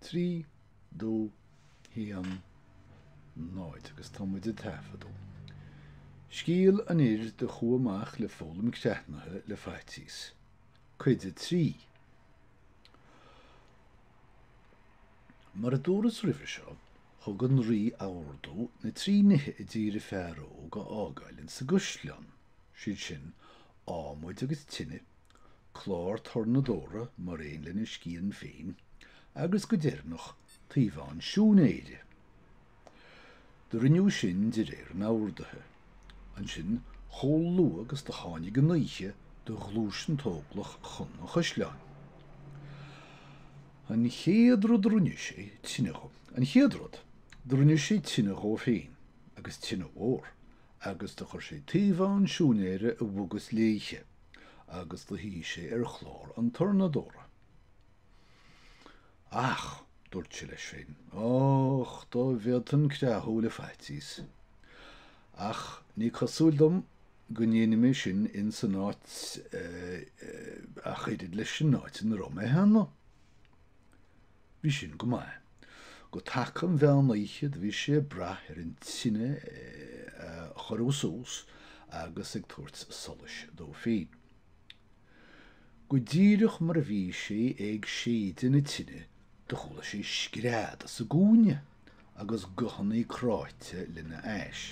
3, 2, 1, 0 agus tá muid ag taifeadadh. Scéal an fhir do chuaigh amach le foghlaim creathnaithe le faitíos. Cuid 3. Mar a dúras roimhe seo, thug an rí ordú na trí nithe a d'iarr an fear óg a fhágáil ins an gcuisleán, siad sin, adhmad agus tine clár tornadóra mar aon lena scian féin agus go deireanach taobhán siúinéire. Do rinneadh sin de réir an ordaithe. Ansin chomh luath agus do tháinig an oíche do ghluais an t-óglach chun an chuisleáin. An chéad rud do rinne sé tine dho. An chéad rud, do rinne sé tine dhó féin, agus tine mhór, agus do chuir sé taobhán siúinéire i bhfogas léithe. agus do shuigh sé ar chlár an tornadóra. Ach, dúirt sé leis féin, Och, dá bhféadfainn creathadh le faitíos. Ach ní cosúil dom go ndéanfaidh mé sin insan áit ach oiread leis an áit ina raibh mé cheana. Bhí sin go maith. I dtaca an mheán oíche do bhí sé ag brath ar an tine a chorrú suas agus ag tabhairt solais dó féin. Go díreach mar a bhí sé ag séideadh na tine do chuala sé scread sa gcúinne agus guthanna cráite lena ais.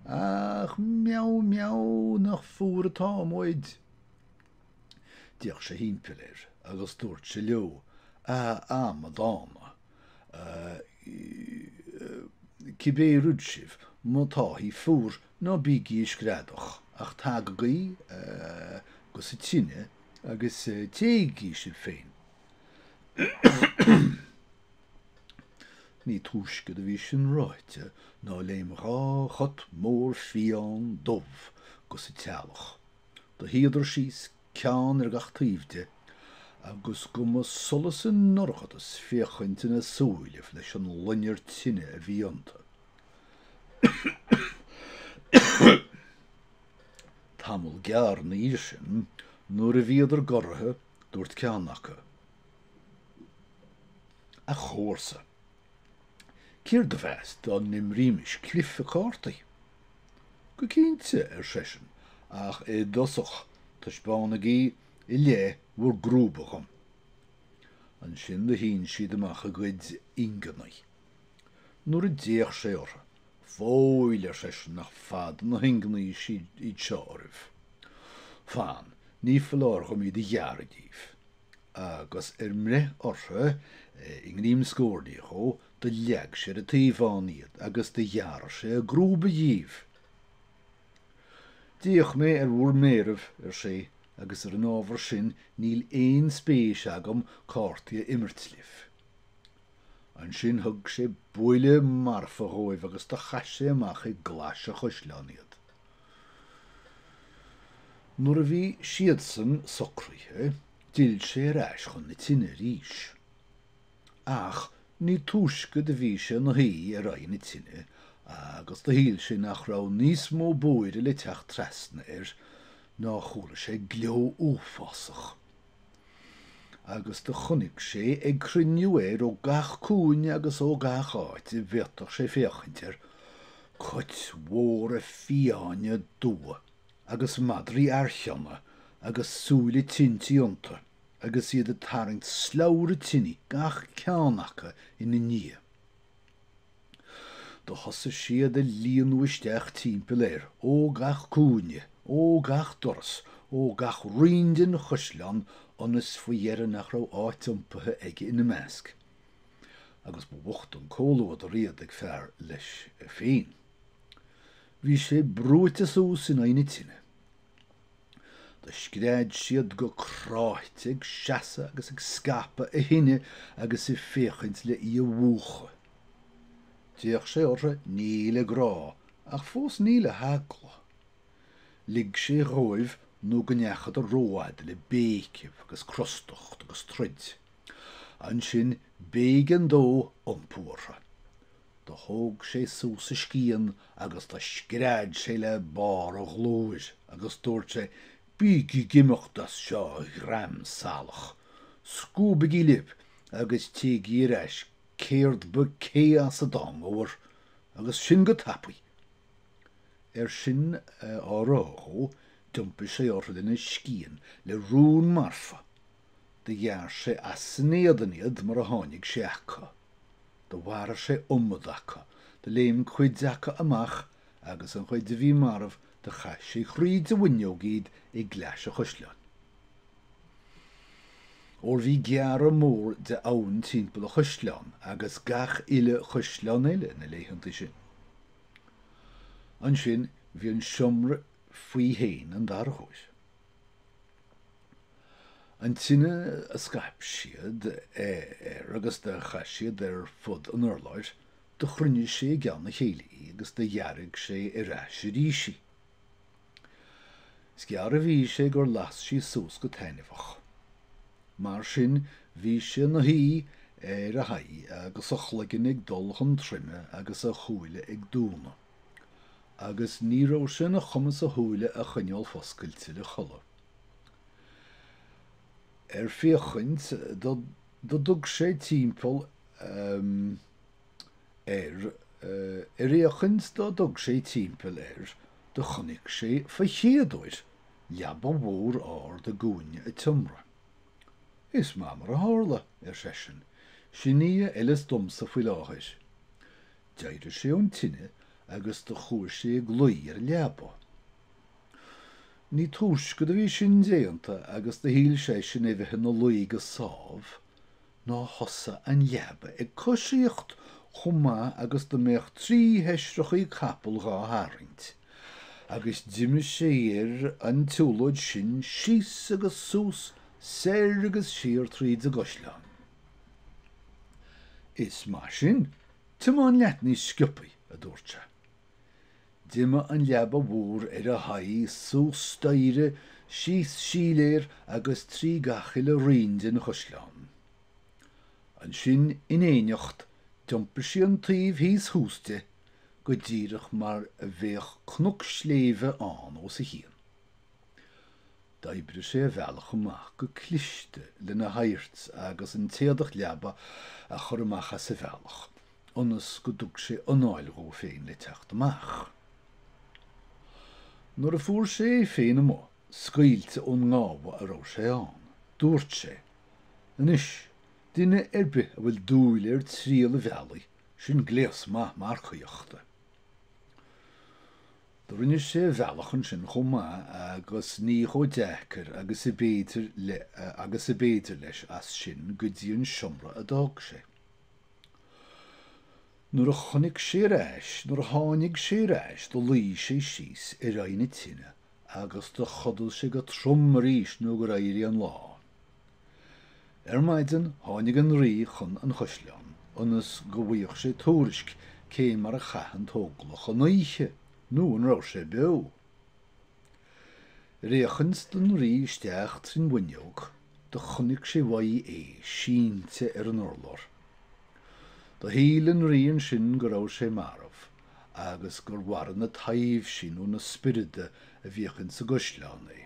Ach meow meow nach fuar atá muid. D'fhéach sé thimpeall air agus dúirt sé leo, A amadána! Cibé rud sibh, má táithí fuar, ná bígí ag screadach, ach tagaigí gus an tine agus téigí sibh féin. Ní túisce do bhí sin ráite ná léim dhá chat mór fiáin dubh gus an teallach. Do shuíodar síos, ceann ar gach taobh de, agus go mba solas i ndorchadas féachaint ina súilibh leis an loinnir tine a bhí iontu. Tamall gearr ina dhiaidh sin, nuair a bhíodar goraithe, dúirt ceann acu, A chomharsa, céard a bheas dá n-imrímis cluife cártaí? Go cinnte, ar seisean, ach i dtosach taispeánaigí i leith bhur gcrúba dhom. Ansin do shín siad amach a gcuid ingní. Nuair a d'fhéach sé orthu, Fóill, ar seisean, nach fada na hingní iad seo oraibh. Fan, ní foláir dhom iad a ghearradh díbh. Agus ar mbreith orthu i ngreim scornaí dhó, Do leag sé ar an taobhán iad agus do ghearr sé a gcrúba dhíobh. D'fhéach mé ar bhur méaraibh, ar sé, agus ar an ábhar sin níl aon spéis agam cártaí a imirt libh. Ansin thug sé buille marfa dhóibh agus do chaith sé amach i gclais an chaisleáin iad. Nuair a bhí siadsan socraithe, d'fhill sé ar ais chun na tine arís. Ach ní túisce do bhí sé ina shuí ar aghaidh na tine agus do shíl sé nach raibh níos mó buairidh le teacht trasna air ná chuala sé gleo uafásach agus do chonaic sé ag cruinniú air ó gach cúinne agus ó gach áit a bhféadfadh sé féachaint air cait mhóra fiáine dubha agus madraí archeana agus súile tintí iontu. agus iad ag tarraingt slabhra tine gach ceann acu ina ndiaidh. Do thosaigh siad ag líonadh isteach timpeall air, ó gach cúinne, ó gach doras, ó gach roinn den chaisleán ionas faoi dheireadh nach raibh áit iompaithe aige ina measc. Agus ba bhocht an comhluadar iad ag fear leis féin. Bhí sé brúite suas in aghaidh na tine. Do scread siad go cráite ag seasamh agus ag scaipeadh a thine agus ag féachaint le í a mhúchadh. D'fhéach sé orthu ní le grá ach fós ní le heagla. Lig sé dhóibh nó go ndeachadar rófhada le béicibh agus crostacht agus troid. Ansin b'éigean dó iompú orthu. Do thóg sé suas a scian agus do scread sé le barr a ghlóir agus dúirt sé, Bígí ag imeacht as seo, a dhream salach! Scuabaigí libh agus téigí ar ais céard ba cé as a dtángabhar, agus sin go tapaidh! Ar sin á rá dhó, d'iompaigh sé orthu lena scian le rún marfa. Do ghearr sé as san éadan iad mar a tháinig sé acu. Do mharaigh sé iomad acu. Do léim cuid acu amach agus an chuid a bhí marbh do chaith sé thríd a bhfuinneog iad i gclais an chaisleáin. Óir bhí gearradh mór de abhann timpeall an chaisleáin agus gach uile chaisleán eile na laethanta sin. Ansin bhí an seomra faoi féin an dara huair. An tine a scaip siad ar agus do chaith siad ar fud an urláir, do chruinnigh sé i gceann a chéile í agus do dhearg sé ar ais arís í. Is gearr a bhí sé gur las sí suas go taitneamhach. Mar sin, bhí sé ina shuí ar a haghaidh agus a chloigeann ag dul chun troime agus a shúile ag dúnadh. Agus ní raibh sé ina chumas a shúile a choinneáil foscailte le codladh. ar féachaint dá dtug sé timpeall ehm ar ar fhéachaint dá dtug sé timpeall air do chonaic sé fa chéaduair leaba mhór ard i gcúinne an tseomra. Is maith mar a tharla, ar seisean, sin í a fheileas domsa faoi láthair. D'éirigh sé ón tine agus do chuaigh sé ag luí ar an leaba. Ní túisce do bhí sin déanta agus do shíl seisean é bheith ina luí go sámh ná thosaigh an leaba ag coisíocht chomh maith agus dá mbeadh trí sheisreachaí capall dhá tharraingt, agus d'imigh sé ar an tsiúlóid sin síos agus suas, soir agus siar tríd an gcaisleán. Is maith sin, tiomáin leat níos sciobthaí, a dúirt sé. D'imigh an leaba mhór ar a haghaidh suas staighre, síos síléar agus trí gach uile roinn den chaisleán. Ansin in éineacht d'iompaigh sí an taobh thíos thuas de, go díreach mar a bheadh cnoc sléibhe ann os a chionn. D'oibrigh sé a bhealach amach go cliste lena hadhairt agus an téadach leaba a chur amach as a bhealach ionas go dtug sé anáil dhó féin le teacht amach. Nuair a fuair sé é féin amuigh, scaoilte ón ngábh a raibh sé ann, dúirt sé, Anois, duine ar bith a bhfuil dúil ar thriall a bhealaigh, sin gléas maith marcaíochta. Rinne sé a bhealach ansin chomh maith agus ní chomh deacair agus a b'fhéidir le agus a b'fhéidir leis as sin go dtí an seomra a d'fhág sé. Nuair a chonaic sé ar ais nuair a tháinig sé ar ais do luí sé síos ar aghaidh na tine agus do chodail sé go trom arís nó gur éirigh an lá. Ar maidin tháinig an rí chun an chaisleáin ionas go bhfuigheadh sé tuairisc cé mar a chaith an t-óglach an oíche nó an raibh sé beo. Ar fhéachaint don rí isteach trín bhfuinneog do chonaic sé uaidh é sínte ar an urlár. Do shíl an rí ansin go raibh sé marbh agus gur mharaigh na taibhsí nó na spioraid a bhíodh insa gcaisleán é.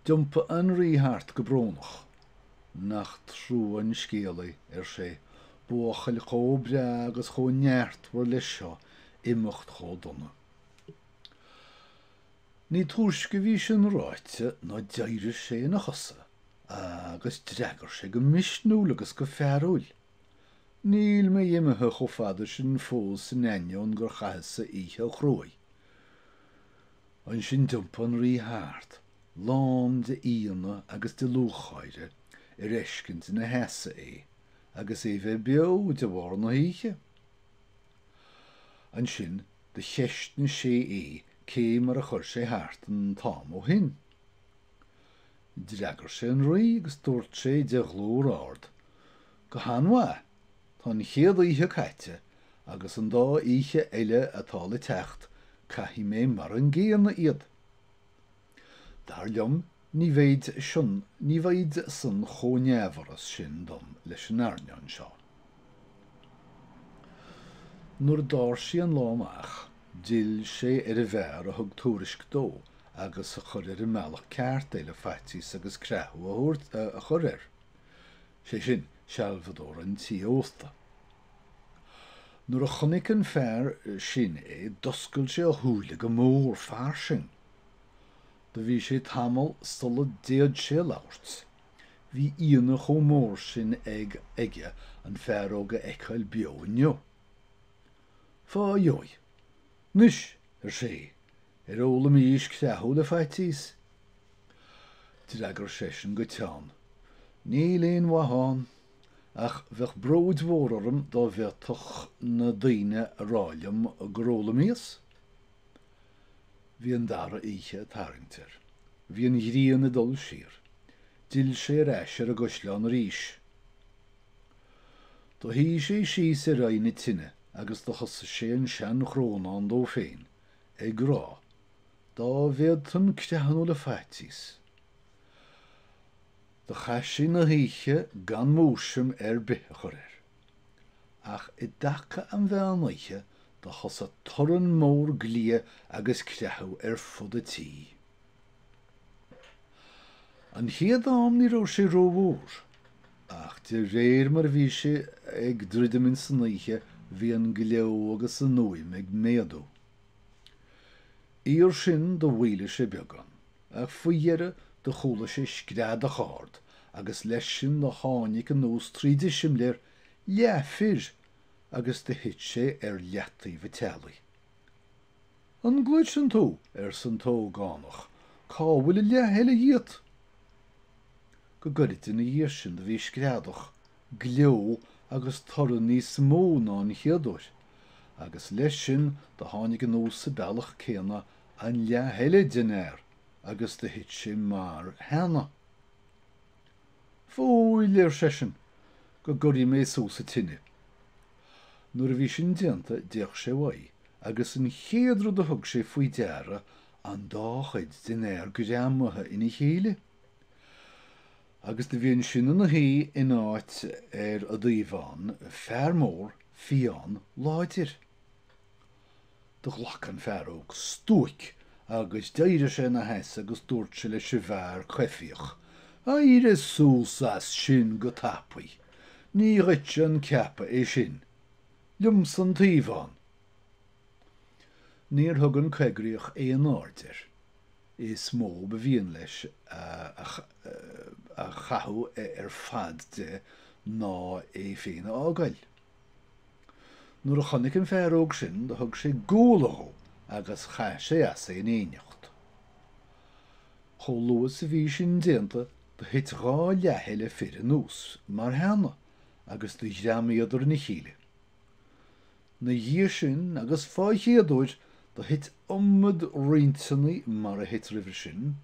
D'iompaigh an rí thart go brónach. Nach trua an scéal é, ar sé, buachaill chomh breá agus chomh neartmhar leis seo imeacht chomh dona. Ní túisce a bhí sin ráite ná d'éirigh sé ina chosa agus d'fhreagair sé go misniúil agus go fearúil, Níl mé imithe chomh fada sin fós in ainneoin gur chaitheas-sa oíche chruaidh. Ansin d'iompaigh an rí thart, lán d'ionadh agus de lúcháire ar fheiscint ina sheasamh é agus é bheith beo de bharr na hoíche. Ansin do cheistigh sé é cé mar a chuir sé thart an t-am ó shin. D'fhreagair sé an rí agus dúirt sé de ghlór ard, Go han-mhaith! Tá an chéad oíche caite agus an dá oíche eile atá le teacht caithfidh mé mar an gcéanna iad. Dar liom ní bheidh sin ní bheidh san chomh neamhfhuras sin dom leis an airneán seo. Nuair a d'fhág sé an lá amach d'fhill sé ar an bhfear a thug tuairisc dó agus a chuir ar an mbealach ceart é le faitíos agus creathadh a thabhairt a chur air. sé sin, sealbhadóir an tí ósta. Nuair a chonaic an fear sin é d'oscail sé a shúile go mór fairsing. Do bhí sé tamall sula d'fhéad sé labhairt. Bhí ionadh chomh mór sin ag aige an fear óg a fheiceáil beo inniu. Fá dheoidh, 'Anois, ar sé, ar fhoghlaimís creathadh le faitíos? D'fhreagair seisean go teann, 'Níl aon mhaith ann, ach bheadh bróid mhór orm dá bhféadfadh na daoine a rá liom gur fhoghlaimíos. Bhí an dara oíche ag tarraingt air. Bhí an ghrian ag dul siar. D'fhill sé ar ais ar an gcaisleán arís. Do shuigh sé síos ar aghaidh na tine agus do thosaigh sé an sean-chrónán dó féin, ag rá, Dá bhféadfainn creathnú le faitíos! Do chaith sé na hoíche gan múisiam ar bith a chur air. Ach i dtaca an mheán oíche do thosaigh torann mór gliaidh agus creathadh ar fud a' tí. An chéad am ní raibh sé ró-mhór, ach de réir mar a bhí sé ag druidim in san oíche bhí an gleo agus an fhuaim ag méadú. Iar sin do mhoilligh sé beagán, ach faoi dheireadh do chuala sé screadach ard agus leis sin do tháinig anuas tríd an simléar leathfhear agus do thit sé ar leataobh an teallaigh. An gcloiseann tú? arsa an t-ógánach. Cá bhfuil an leath eile díot? Go gairid ina dhiaidh sin do bhí screadach, gleo agus torann níos mó ná an chéad uair, agus leis sin do tháinig anuas sa bealach céanna an leath eile den fhear agus do thit sé mar cheana. Foighid, ar seisean, go gcuirfidh mé suas an tine. Nuair a bhí sin déanta d'fhéach sé uaidh agus an chéad rud a thug sé faoi deara an dá chuid den fhear greamaithe ina chéile. Agus do bhí ansin ina shuí in áit ar an dtaobhán fear mór fiáin láidir. Do ghlac an fear óg stuaic agus d'éirigh sé ina sheasamh agus dúirt sé leis an bhfear coimhthíoch, Éirigh suas as sin go tapaidh! Ní dhuitse a ceapadh é sin! Liomsa an taobhán! Níor thug an coigríoch aon aird air. Is mó ba mhian leis a chathú ar fad de ná é féin a fhágáil. Nuair a chonaic an fear óg sin do thug sé guala dó agus chaith sé as é in éineacht. Chomh luath is a bhí sin déanta do thit dhá leath eile fir anuas mar cheana agus do ghreamaíodar ina chéile. Ina dhiaidh sin agus fá chéad uair do thit iomad roinnteanna mar a thit roimhe sin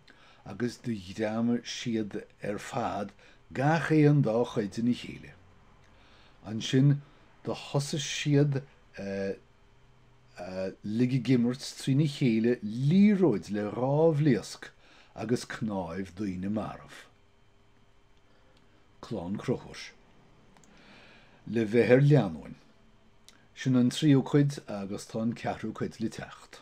agus do ghreamaigh siad ar fad gach aon dá chuid ina chéile. Ansin do thosaigh siad uilig ag imirt trína chéile liathróid le dhá bhlaosc agus cnáimh daoine marbh. Clann Crochúir. Le bheith ar leanúin. Sin an tríú cuid agus tá an ceathrú cuid le teacht.